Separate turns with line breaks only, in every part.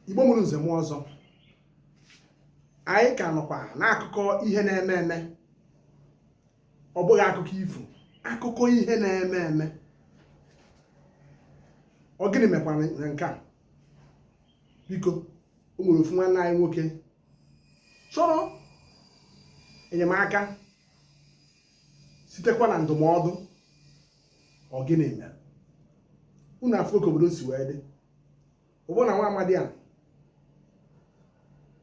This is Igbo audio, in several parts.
igbo mụrụ nze mụọ ọzọ anyị ka nọkwa n'akụkọ ihe na-eme eme ọ bụghị akụkọ ifo akụkọ ihe na-eme eme ọ gịnị mekwara na nke a biko o nwere ofu nwanne anyị nwoke chọrọ enyemaka sitekwa na ndụmọdụ ọ gịnị mere unu afụọ ka obodo si wee dị ọ bụ na nwa amadi a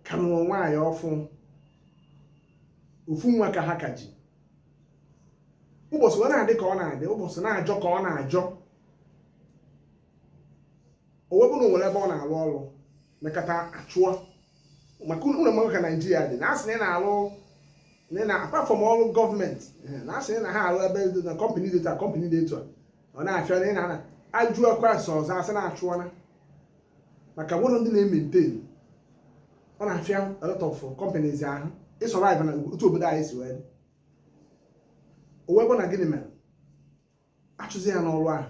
ka nụrụ nwaanyị ọfụụ ofu nwa ka ha ka ji ụbọchị ọ na-adị ka ọ na-adị ụbọchị na-ajọ ka ọ na-ajọ o wee bụrụ o nwere ebe ọ na-alụ ọrụ mekata a chụọ ya maka unu ma ka naijiria dị na a sị na ị na-alụ na ị na apart from ọrụ gọọmenti na a sị na ha alụ ebe dị na kọmpanị dị etu a kọmpanị dị etu a ọ na-afịa na ị na-ana ajụ ọkwa asị ọzọ a sị na a chụọna maka nwụrụ ndị na-ementain ọ na-afịa a lot of companies ahụ ịsurvive na otu obodo anyị si wee dị o wee bụ na gịnị mere a chụzie ya n'ọrụ ahụ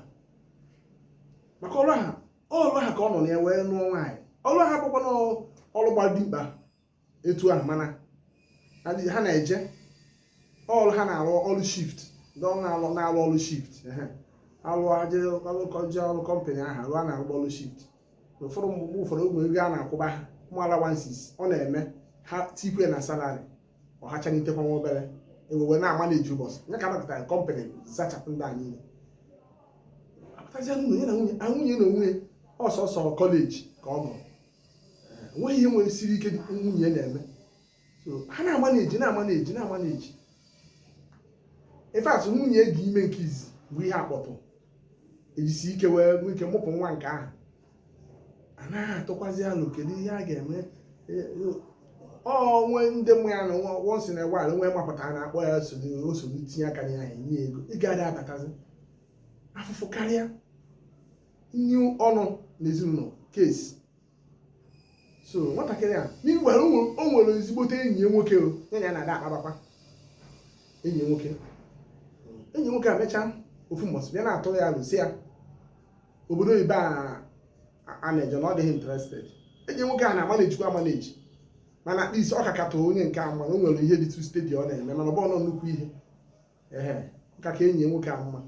maka ọrụ ahụ ọrụ ahụ ka ọ nọ na ya wee nụọ nwaanyị ọrụ ahụ bụkwa na ọrụ gbara dimkpa etu ahụ mana ha na-eje ọrụ ha na-arụ ọrụ shift ndị ọrụ na-arụ na-arụ ọrụ shift ehe. alụ aje alụkọje ọrụ kọmpanị ahụ alụ a na-arụ ọrụ shift ụfọdụ mgbe ụfọdụ ụmụ ego a na-akwụba ha ụmụ alawansis ọ na-eme ha tikwe na salari ọ hachanitekwa nwa obere ihe e wee na-amanage ụbọchị nye ka anapụtara kọmpanị zachapụ ndị a niile apụtazie n'ụlọ ya na nwunye ya nwunye n'onwe ya ọ sọsọ kọleji ka ọ gụrụ enweghị ihe nwere siri ike nwunye na-eme so ha na-amanage na-amanage in fact nwunye dị ime nke izi mbụ ihe akpọtụ e jisie ike wee nwee ike mụpụ nwa nke ahụ a na-atụkwazi alo kedu ihe a ga-eme o nwe ndị mụ ya na once in a while nwe mapụtara na akpọ ya nsogbu tinye aka na ya enye ego ị gaghị abatazi afụfụ karịa nye ọnụ n'ezinụlọ kesi so nwatakịrị a meanwhile o nwere ezigbote enyi ya nwoke ya na ya na-ada akpabakwa enyi nwoke enyi nwoke a mechaa ofu mbọsị bịa na-atụrụ ya alo sị ya obodo oyibo a na-eje na ọ dịghị interested enyi nwoke a na-amanagekwa amanage mana at least ọ ka katụ onye nke a mma na o nwere ihe dịtụ stedi ọ na-eme mana ọ bụghọ nnukwu ihe ehe nka ka enyi nwoke a mma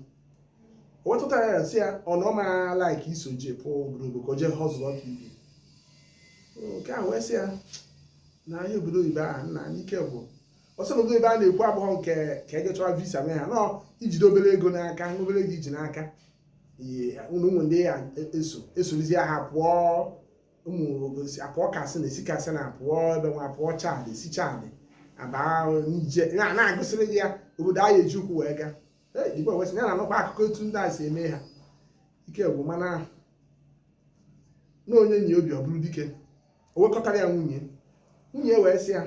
o wee tụtara ya sị ya ọ na ọ ma laik iso je pụọ obodo oyibo ka o jee họzụlụọ ka ibe nke a wee sị ya na anyị obodo oyibo ahụ nna anyị nke bụ ọ sị na obodo oyibo a na-ekwu abụghọ nke ka e je chọwa visa mee ha na ọ i jide obere ego n'aka obere ego i ji n'aka ihe unu ụmụ ndị ya eso e sorozie ha pụọ ụmụ obosi apụọ katsina esi katsina apụọ ebe nwa apụọ chad esi chad aba niger na- na-agụsịrị gị ya obodo a ya-eji ụkwụ wee gaa Ee, igbo wee sị ya na-anụkwa akụkọ otu ndị a si eme ha ike gwụ mana na onye nyi obi ọ bụrụ dike o wee kọtara ya nwunye nwunye wee sị ya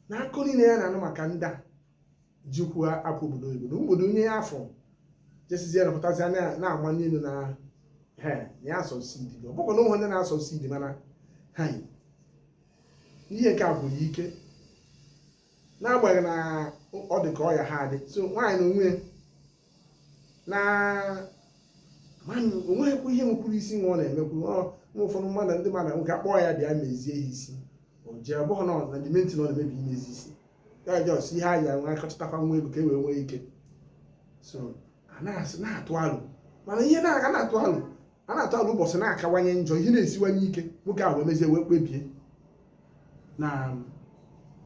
na akụkọ niile ya na-anụ maka ndị a ji ụkwụ apụ obodo oyibo na obodo onye ya afọ jesizie napụtazi na-amanye elu na he na ya asucceed ọ bụkwa na ụmụ ndị na-asucceed mana ha ihe nke a gwụrụ ike n'agbanyeghị na ọ dị ka ọ ya ha adị so nwaanyị na onwe na o nweghịkwa ihe nwekwuru isi nwa ọ na-emekwu nwa ụfọdụ mmadụ ndị mmadụ nwoke akpọọ ya bịa mezie ya isi o jee ọ bụghị na ọ na dimenti na ọ na-emebi imezi isi ya just ihe a ya nwa akọchịtakwa nwa ego ka e wee nwee ike so a na-asị na-atụ alo mana ihe na-aga na-atụ alo a na-atụ alo ụbọchị na-akawanye njọ ihe na-esiwanye ike nwoke ahụ wee mezie wee kpebie na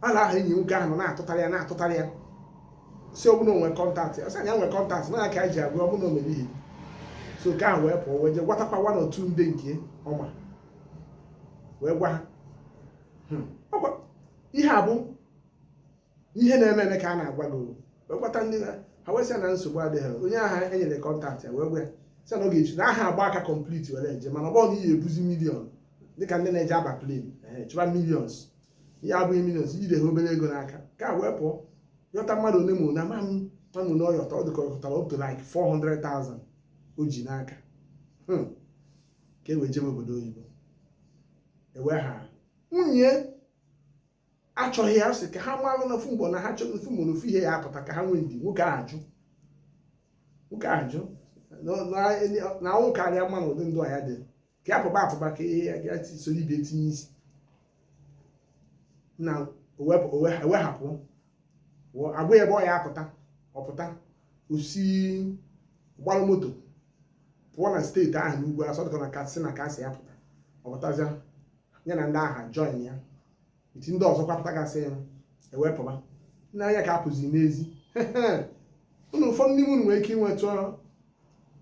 alo ahụ enyi nwoke ahụ na-atụtara ya na-atụtara ya sị ọ bụ na o nwere contact ọ sị na ya nwere contact na ka anyị ji agụ ọ bụ na o mere ihe so nwoke ahụ wee pụọ wee jee gwatakwa one or two ndị nke ọ ma wee gwa ha hmm. ihe a bụ ihe na-eme eme ka a na-agwa gị wee gwata ndị na ha wee sị ya na nsogbu adịghị onye ahụ e nyere contact ya wee gwa ya sị na ọ ga-eji na aha agba aka complete were eje mana ọ bụrọ na ị ga-ebuzi million dịka ndị na-eje aba plane chọba millions ihe a abụghị millions i jide ha obere ego n'aka nwoke a wee pụọ yọta mmadụ ole ma ole ama m ma ọ bụ na ọ yọta ọ dịka ọ yọtara up to like 400,000 o ji n'aka Hmm. ka e wee jebe obodo oyibo e wee ha nwunye achọghị ya sị ka ha malụ na ofu mgbe na ha chọrọ ofu mgbe na ofu ihe ya-apụta ka ha nwee ndidi nwoke ahụ ajụ nwoke ahụ ajụ na ọnwụ kara ya mma na ụdị ndụ a ya dị ka ya pụba apụba ka ihe ya soro ibe tinye isi na e wee hapụ a gwa ebe ọ ya-apụta ọ pụta o si gbalụ moto pụọ na state ahụ n'ugwu a sị ọ dị ka ọ na katsina ka a sị ya pụta ọ pụtazịa ya na ndị ahụ join ya iti ndị ọzọ kwa pụtagasịa e wee pụba nna anya ka apụzi n'ezi unu ụfọdụ n'ime unu nwere ike inwetụ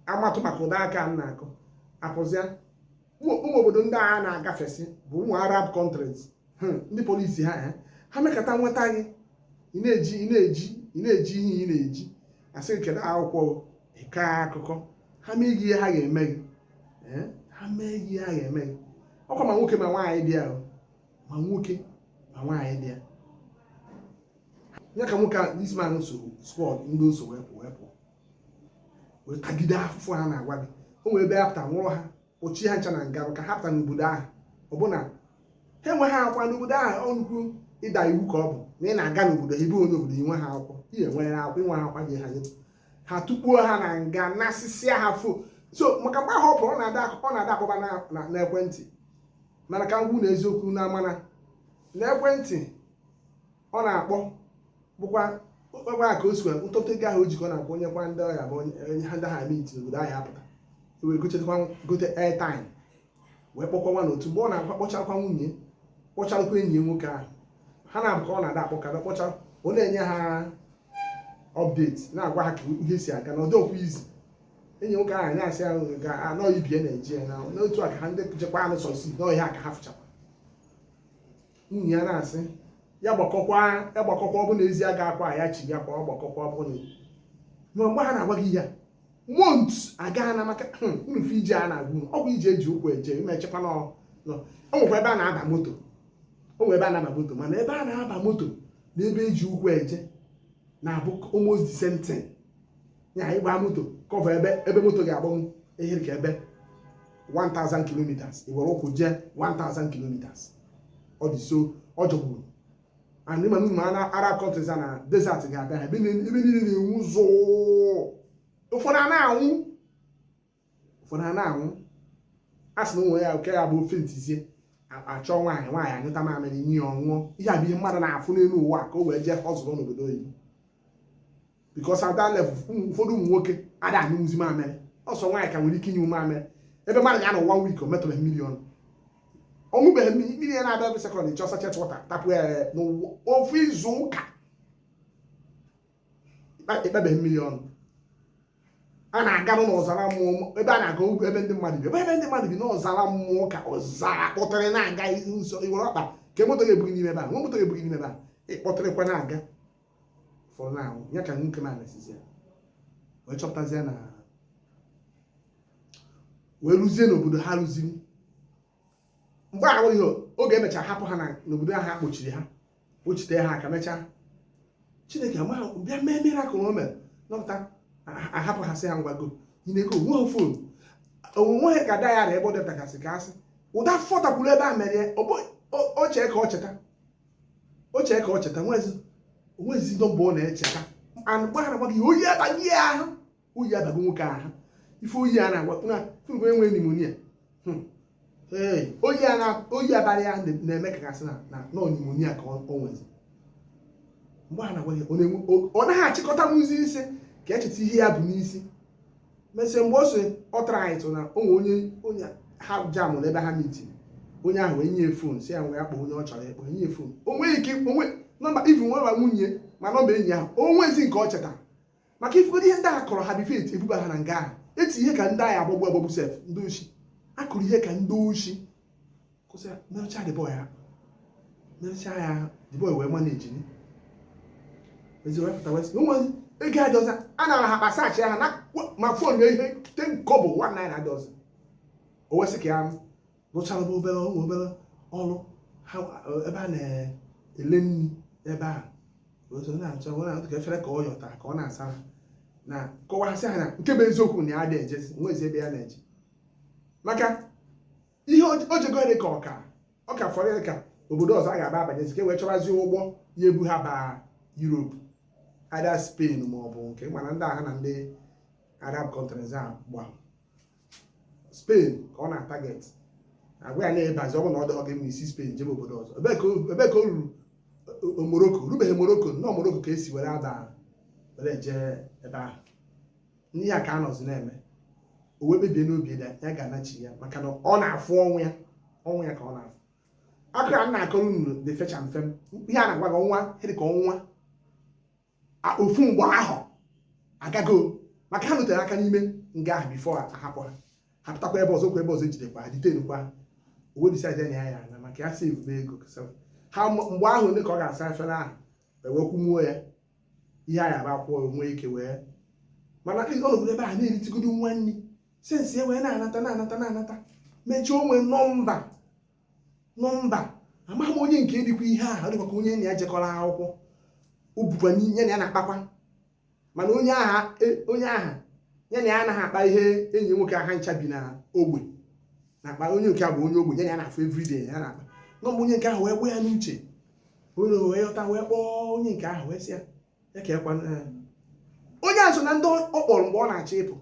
amatụ maka ụda aka m na-akụ apụzịa ụmụ ụmụ obodo ndị a na-agafesị bụ ụmụ arab countries Hmm, ndị police ha ha ha mekata nweta gị ị na-eje ị na-eje ị na-eje ihe ị na-eje a sị gị kedu akwụkwọ gị, ị kaa akụkọ ha mee gị ihe ha ga-eme gị ha mee ihe a ga-eme gị ọkwa ma nwoke ma nwaanyị dị ya ma nwoke ma nwaanyị dị ya ya ka nwoke a this man so squad ndị o so wee pụ wee pụ wee tagide afụfụ a na-agwa gị o nwere ebe ha pụta nwụrụ ha kpọchie ha ncha na nga ka ha pụta n'obodo ahụ ọbụna ha enweghị akwa n'obodo ahụ ọ nnukwu ịda iwu ka ọ bụ na ị na-aga n'obodo ebe onye obodo i nweghị akwụkwọ ihe enwere akwụkwọ i nweghị akwa gị ha nye ha tukpuo ha na nga nasịsịa ha fon so maka mgbe ahụ ọ pụrụ ọ na-ada ọ na-ada akpọba na- na- n'ekwentị mana ka m gwa unu eziokwu na amana n'ekwentị ọ na-akpọ bụkwa ebe a ka o sikwa ntụtụ ego ahụ o ji ka ọ na-akpọ ọ nyekwa ndị ọyị ya bụ onye onye ha ndị ha meet n'obodo ahụ a pụta wee gochetakwa gote airtime wee kpọkwa nwa na otu mgbe ọ na-akpọchakwa nwunye kpọcharụkwa enyi ya nwoke ahụ ha na-abụ ka ọ na-ada akpọ kada kpọcha ọ na-enye ha update na-agwa ha ka ihe si aga na ọ dọkwa easy enyi nwoke ahụ na-asị ahụ ga-anọ ibie Naijiria na n'otu a ka ha ndị jekwa anụ sọsi n'ọhịa ka ha fụchakwa nwunye ya na-asị ya gbakọkwa ya gbakọkwa ọ bụ na ezi agakwa ya chi ya kwa ọ gbakọkwa ọ bụ na ma mgbe a na-agwa gị ihe a months aga na maka hmm, unu fụ ije a na-agwa unu ọ bụ ije e ji ụkwụ eje ime echekwa na ọ nọ. o nwekwa ebe a na-aba moto o nwere ebe a na-aba moto mana ebe a na-aba moto na ebe e ji ụkwụ eje na-abụ almost the same thing ya ị gbaa moto cover ebe ebe moto ga-agbanwu ihe dị ka ebe 1000 kilometers i were ụkwụ jee 1000 kilometers ọ dị so ọ jọgburu and ị ma n'ụmụ Arab countries na desert ga-abịa ha ebe niile na-enwu zụụ ụfọdụ a na-anwụ ụfọdụ ha na-anwụ a sị na o nwere nke ya-abụ ọ faintzie a chọọ nwaanyị nwaanyị anyụta mamịrị nye ọ ṅụọ ihe a bụ ihe mmadụ na-afụ n'elu ụwa ka o wee jee ọrụ n'obodo oyibo because at that level ụfọdụ ụmụ nwoke ada anyụzi mamịrị ọ sọ nwaanyị ka nwere ike ịnyụ mamịrị ebe mmadụ ga-anọ 1 week o metụrọ mmiri ọnụ ọ ṅụbeghị mmiri mmiri ya na-abịa ebe second chọọ sachet water tapụ ya n'ofu izu ụka ị kpabeghị mmiri ọnụ a na-aga n'ọzara mmụọ ebe a na-aga ugwu ebe ndị mmadụ bi ebe ndị mmadụ bi n'ọzara mmụọ ka ọzara kpọtara na-aga nsọ i were ọkpa ka moto ga-ebu gị n'ime ebe a nwa moto ga-ebu gị n'ime ebe a ị kpọtụrụkwa na-aga fọrọ na ahụ ya ka nwoke na anasizi ya wee chọpụtazie na wee ruzie n'obodo ha ruziri mgbe ahụ ihe oge e mechara hapụ ha n'obodo ahụ a kpọchiri ha kpọchite ha aka mechaa Chineke amaghị bịa mee miracle o mere nọpụta a hapụ ha sị ha ngwa go nyineke o nweghị fon o nweghịkwa diary ebe o detagasị ka a sị ụda fọtakwuru ebe a mere ya o chee ka o cheta o chee ka o cheta o nwezi nọmba ọ na-echeta mgbe a na-agwa gị oyi abaa ya ahụ oyi abago nwoke ahụ ife oyi a na-agwa na fụrụ enwe nimonia hmm. oyi abalị ya na-eme ka a ga-asị na nọ nimonia ka o nwezi mgbe a na-agwa ya ọ naghị achịkọtanwuzi isi ka e cheta ihe ya bu n'isi mesịa mgbe o si ọ tara anyị tụ na o nwe onye onye ha jamụ n'ebe ha mitiri onye ahụ wee nye fon sị ya ngwa ya kpọọ onye ọ chọrọ ịkpọ nye fon o nweghị ike o nwe nọmba even nwe nwa nwunye ma nọmba enyi ahụ o nwezi nke ọ chetara maka ifugodo ihe ndị a kụrụ ha bifo eti ebuba ha na nga ahụ eti ihe ka ndị a ya-agbagbu agbagbu sef ndị oshi a kụrụ ihe ka ndị oshi kụsị merụcha the boy ahụ merụcha ya ahụ the boy wee manejiziri pụta wee sị o nwezi ego adọza a nara ha kpasachi ha na ma fon ya ihe ten kobo one naira adọza o wee sị ka ya rụchara bụ obere ọrụ obere ọrụ ha ebe a na-ele nri ebe a otu ọ na-achọ ọ na-atụ ka efere ka ọ yọta ka ọ na-asa ha na-akọwasị ha na nke bụ eziokwu na ya adịghị ejezinwuzi ebe ya na-eje maka ihe o- o jego dị ka ọ ka ọ ka fọrọ ya ka obodo ọzọ a ga-aba abanyezi ka e wee chọbazie ụgbọ ya-ebu ha baa Europe either Spain ma ọ bụ nke mana ndị aha na ndị Arab countries a gbara Spain ka ọ na-ataget a gwa ya na ị bazi ọ bụ na ọ dọghọ gị mma i si Spain jebe obodo ọzọ ebe ka o- ebe ka o ruru O- o- Morocco rubeghị Morocco na ọ Morocco ka e si were aba were eje ebe ahụ n'ihe a ka a nọzi na-eme o wee kpebie n'obi ya ya ga-anachigha maka na ọ na-afụ ọnwụ ya ọnwụ ya ka ọ na-afụ akụkọ a m na-akọrọ unu dị fecha mfe m. ihe a na-agwa gị ọnwa dị ka ọnwa ofu mgbe ahụ agago maka ha nọtere aka n'ime nga ahụ bifo a hapụ ha ha pụtakwa ebe ọzọ kwa ebe ọzọ e jidekwa ha ditenukwa o wee disaidizi na ya na ma ka ya sevube ego ha mgbe ahụ ole ka ọ ga-asa efere ahụ ewekwumuo ya ihe a ga-aba akwụkwọ nwee ike wee mana ọ nọgoro ebe ahụ na-eritụgodo nwa nri sensi ya wee na-anata na-anata na-anata mechaa o nwe nọmba nọmba amaghị m onye nke dịkwa ihe ahụ ọ dịkwa ka onye na ya jekọrọ akwụkwọ ọ bụkwa onye na ya na-akpakwa mana onye aha e- onye aha ya na ya anaghị akpa ihe enyi nwoke a ha ncha bi na ogbe na-akpa onye nke a bụ onye ogbe ya na ya na-afụ everyday ya na-akpa nọmba onye nke ahụ wee gbaa ya n'uche o wee yọta wee kpọọ onye nke ahụ wee sị ya ya ka ekwa onye a so na ndị ọ kpọrọ mgbe ọ na-achọ ịpụ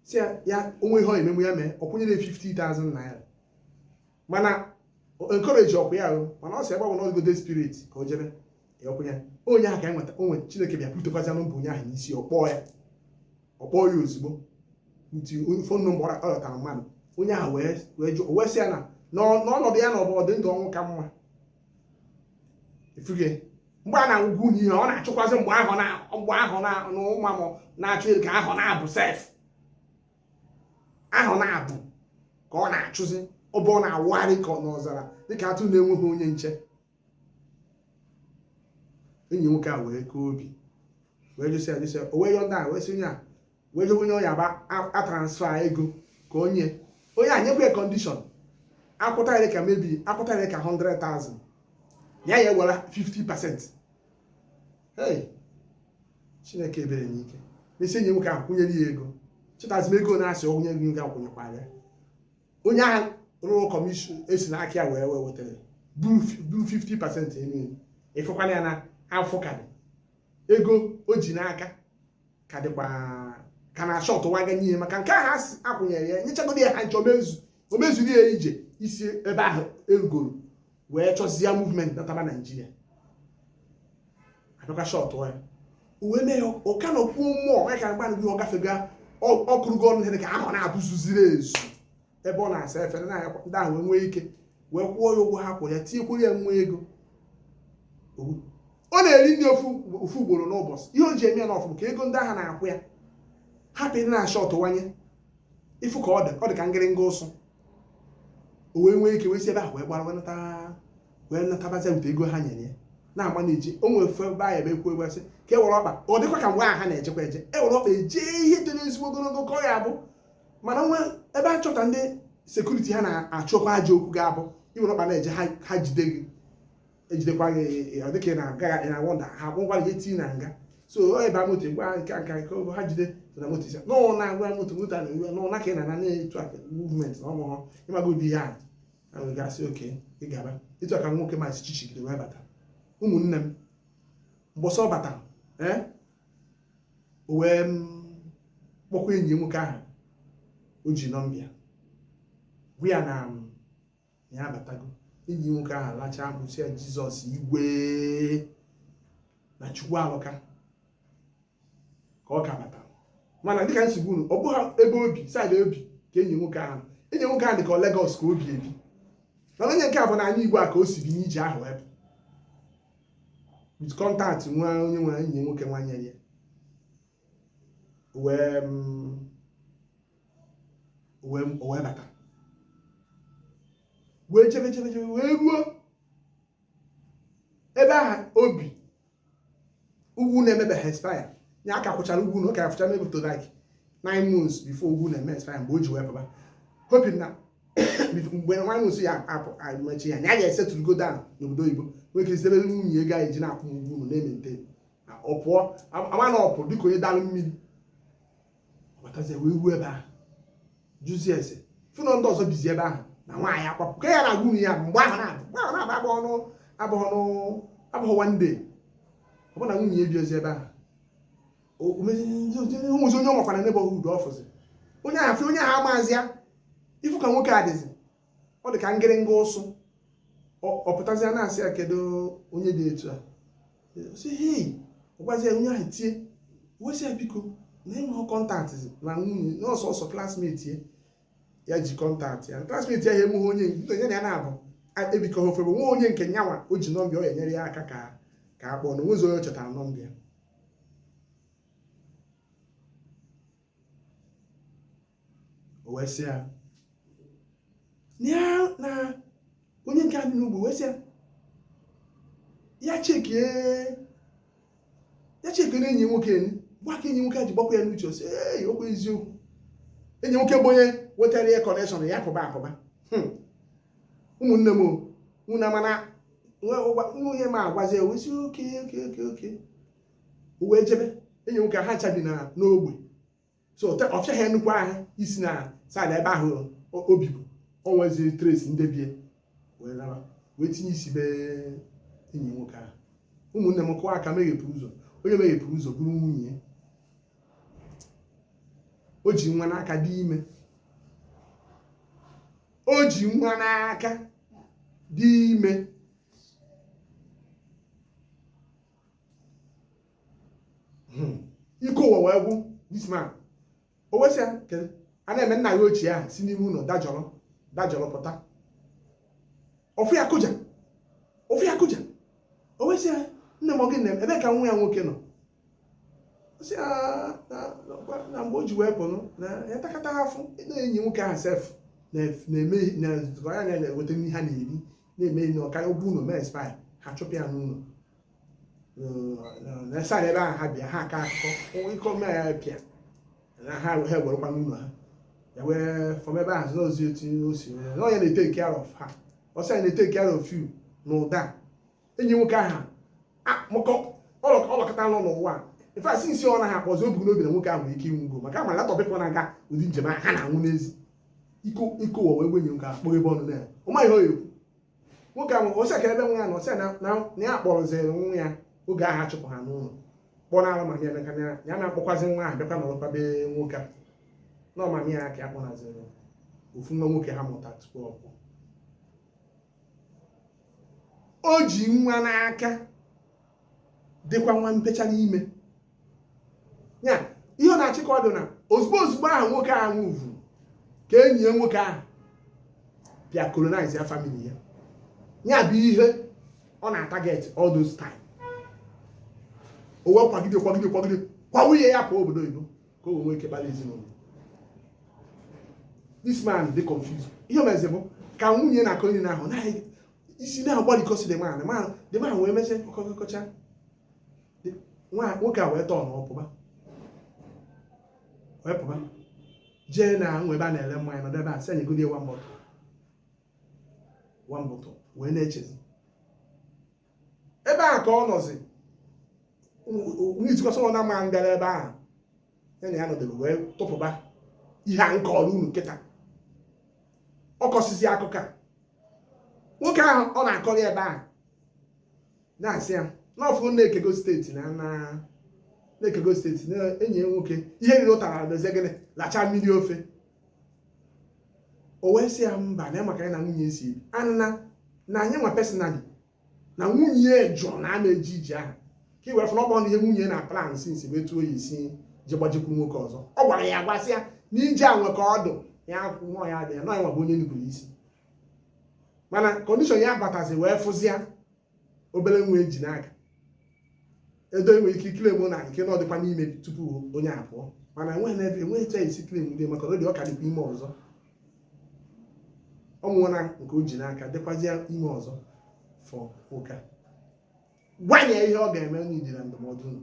sị ya o nwe ihe ọ ya-emenwu ya mee ọ kwụnyere 50,000 naira mana encourage ọkwa ya mana ọ sị ebe ọ bụ na ọ dịgo the spirit ka o jebe ya ọkwụ ya onye ahụ ka enweta onwe Chineke bịa butekwazia nọmba onye ahụ n'isi ọ kpọọ ya ọ kpọọ ya ozugbo nti fon nọmba ọ yọtara mmadụ onye ahụ wee jụọ wee sị ya na ọnọdụ ya nọ bụ ọdị ndụ ọnwụ ka mma ịfụgo mgbe a na-agwa unu ihe ọ na-achụkwazi mgbe ahụ na mgbe ahụ na ụma m na-achụ elu ka ahụ na-abụ sef ahụ na-abụ ka ọ na-achụzi ọ bụ ọ na-awagharị ka ọ n'ọzara dịka atụrụ na-enweghị onye nche enyi nwoke a wee kaa obi wee jụsịa jụsịa o wee yọ ndị a wee sị onye a wee jewe onye ọ ya ba atransfer ego ka onye onye a nyekwa ya condition akwụta ya ka maybe akwụta ya ka 100,000 ya ya ewere 50 percent hey chineke ebere m ike mesi enyi nwoke ahụ kwụnyere ya ego chetazi m ego na-asị onye gị ga akwụnyekwara ya onye ahụ riri commission e si n'aka ya wee wee wetara buru 50 percent eme ịfụkwana ya na afọ karị ego o ji n'aka ka dịkwa ka na-ashortwaga n'ihe maka nke ahụ a sị akwụnyere ya nyechagodi ya ha ncha o mezu o mezuru ya iji si ebe ahụ erugoro wee chọzie movement nataba Nigeria abịakwa short ya o wee mee ụka na okwu mmụọ ya ka mgbanụ gị ọ gafega ọkụrụgo ọnụ ihe ka ahụ na-abụzuziri ezu ebe ọ na-asa efere na ndị ahụ wee nwee ike wee kwụọ ya ụgwọ ha kwụrụ ya tinyekwuru ya nwa ego ọ na-eri nri ofu ugboro n'ụbọchị ihe o ji eme ya na ofu ka ego ndị ahụ na-akwụ ya hapụ ịdị na-ashortwanye ị fụ ka ọ dị ọ dị ka ngịrịnga ụsụ o wee nwee ike wee si ebe ahụ wee gbara wee natabazi wute ego ha nyere ya na-agba na-eji o nwere ofe ebe ahụ ebe ekwu ekwesị ka e were ọkpa ọ dịkwa ka mgbe ahụ ha na-ejekwa eje e were ọkpa ejee ihe dị n'ezigbo ogologo ka ọ ya abụ mana nwe ebe a chọta ndị security ha na-achọkwa ajọ okwu ga-abụ iwere ọkpa na-eje ha jide gị ejidekwa gị dịka ị na-aga ị na-awander ha akpọkwa gị tii na nga so ọ ebe moto gwa nke nka nke ogo ha jide na moto isi n'ọ na-agwa moto moto a na-ewe n'ọ naka ị na nanị etu a movement na ọmụhọ ịmaga ụdị ihe a na wee gasị okay ị gaba etu a ka nwoke m a si chichigide wee bata ụmụnne m mbọsị ọ bata ee eh? o wee mm, kpọkwa enyi nwoke ahụ o ji nọmba ya gwa ya na mm, ya abatago enyi nwoke ahụ lachaa mkpu sị ya Jesus igwe na chukwu alụka ka ọ ka batara mana dịka m si gwa unu ọ bụghị ebe o bi side o bi ka enyi nwoke ahụ enyi nwoke ahụ dị ka ọ Lagos ka o bi ebi mana onye nke a bụ n'anị igbo a ka o si bi n'ije ahụ ebe with contact nwa onye nwe enyi nwoke nwa nyere ya wee mm, wee wee bata wee chebe chebe chebe wee ruo ebe ahụ o bi ụgwọ ụnọ emebeghị expire ya a ka kwụchara ụgwọ ụnọ ọ ka ya fọcha maybe to like nine months before ụgwọ ụnọ eme expire mgbe o ji wee pụba hoping na mgbe nine months ya apụ amachi ya na ya ga-esetụlụgo down n'obodo oyibo nwee ike zitebere nwunye ego anyị ji na-akwụ ụgwọ ụnọ na-emente ọ pụọ ama na ọ pụrụ dịka onye dalụ mmiri ọ batazie wee ruo ebe ahụ jụzie ese fụ na ndị ọzọ bizi ebe ahụ na nwaanyị akwapụ ka ya na-agwa unu ya mgbe ahụ na-abụ mgbe ahụ na-abụ abụghị ọnụ abụghị ọnụ abụghị one day ọ bụ na nwunye ya ebirozi ebe ahụ o nwezi onye ọ makwa na neighborhood ọ fụzi onye ahụ fụ onye ahụ amazi ya ị fụ ka nwoke a dịzi ọ dị ka ngịrịnga ụsụ ọ pụtazi ya na-asị ya kedu onye dị etu a sị hei ọ gwazi ya onye ahụ tie wee sị ya biko na enweghị kọntaktị na nwunye na ọ sọsọ klasmeti ya ya ji kọntaktị ya klasmeti ya ya enweghị onye nke ya na ya na-abụ ebikọghị ofe bụ nwa onye nke ya nwa o ji nọmba ọ ya enyere ya aka ka ka a kpọọ na o nwezi onye ọ chọtara nọmba ya o wee sị ya ya na onye nke anyị n'ugbo wee sị ya ya chekie ya chekie na enyi nwoke nị gwa ka enyi nwoke a ji gbakwa ya n'uche sị ee okwu eziokwu enyi nwoke bụ onye wetara ya kọnekshọn ya kụba akụba ụmụnne m unu ama na nwunye m agwazi e wee sị oke o wee jebe enyi nwoke ahụ chabi na n'ogbe so ọfịa ha nnukwu ahụ isi na saịdị ebe ahụ o bibu o wezi tres ndebie wee tinye isi be enyi nwoke ahụ ụmụnne m kụwa aka meghepụ ụzọ onye meghepụrụ ụzọ bụrụ nwunye o ji nwa n'aka dị ime o ji nwa n'aka dị ime hmm. ike ụwa wee gwụ this man o wee sị ya a na-eme nna ya ochie ahụ si n'ime ụlọ dajọrọ dajọrọ pụta ọ fụ ya kụja ọ fụ ya kụja o wee sị ya nne m gị na ebe ka nwa ya nwoke nọ sị na mgbe o ji wee pụrụ na ha takata afụfụ na enyi nwoke ahụ sef na-eme na nzukọ ya na-eweta nri ha na-eri na-eme na ọkarịa ụgwọ ụlọ wee expire ha chụpụ ya n'ụlọ na e si ebe ahụ ha bịa ha aka akụkọ ịkọ mme ya pịa na ha ha enwerọkwa ụlọ ha ya wee fọm ebe ahụ nọzi otu o si na ọ ya na-eteki care of ha ọ sọ ya na-eteki care of you na ụda enyi nwoke ahụ maka ọlọkọta nọ n'ụwa ife asị isi ọ naghị akpọzi o bu n'obi na nwoke ahụ nwere ike ịnwụgo maka ọ ma a lot of people na-aga ụdị njem ahụ ha na-anwụ n'eziokwu ike ụwa wee gwụ nwoke ahụ kpọghị ebe ọnụ na ya ọ maghị ọ ya ekwu nwoke ahụ ọ sị kee ebe nwa ya nọ ọ sị na na ya kpọrọziri nwa ya oge ahụ a chụpụ ha n'ụlọ kpọọ na alụmanya emeka na ya na-akpọkwazi nwa ahụ bịakwa nọrọkwa be nwoke a na ọmanya ya ka ya kpọnaziri ofu nwa nwoke ha mụta tupu ọ pụọ o ji nwa n'aka dịkwa nwa mpecha n'ime ya ihe ọ na-achị ka ọ dị na ozugbo ozugbo ahụ nwoke ahụ nwụrụ ka enyi ya nwoke ahụ bịa colonize ya family ya ya bụ ihe ọ na-atarget all those time o wee kwagide kwagide kwagide kwa nwunye ya pụọ obodo oyibo ka o nwee ike kpara ezinụlọ this man dey confused ihe o mezi bụ ka nwunye na-akọni ihe ahụ naghị isi na-agbalịkọsi the man man the man wee mezie kọkọcha nwoke a wee turnụọ pụba wee pụba jee na nwa ebe a na-ere mmanya nọdụ ebe a sị a nyegodi one bottle one bottle wee na-echezi ebe ahụ ka ọ nọzi n'itikọsọ ọ na-ama ngara ebe ahụ ya na ya nọdebe wee tụpụba ihe a m kọrọ unu kịta ọ kọsizi akụkọ a nwoke ahụ ọ na-akọrọ ebe ahụ na-asị ya na ọ fụ na e kego steeti na na na e kego steeti na enyi ya nwoke ihe riri ụtara mezie gịnị lacha mmiri ofe o wee sị ya mba na maka ya na nwunye si ebi ana na ya nwa personally na nwunye jụrụ na a ma eje ije ahụ ka i were fụ na ọ bụrọ na ihe nwunye na-aplan since bụ etu ọ ya-esi ji gbajekwu nwoke ọzọ ọ gwara ya gwasị ya na ije a nwe ka ọ dị ya akwụ nwa ya di ya na ọ ya nwa bụ onye nupụrụ isi mana condition ya batazi wee fụzịa obere nwa e ji n'aka edo enwe ike claim na nke na ọ dịkwa n'ime tupu ya apụọ mana enweghị n'ebe enweghị ka e si claim ndị maka ọ dị ọ ka dịkwa ime ọzọ ọ mụọla nke o ji n'aka dịkwazịa ime ọzọ fọ ụka gwa ya ihe ọ ga-eme needịrị ndụmọdụ unu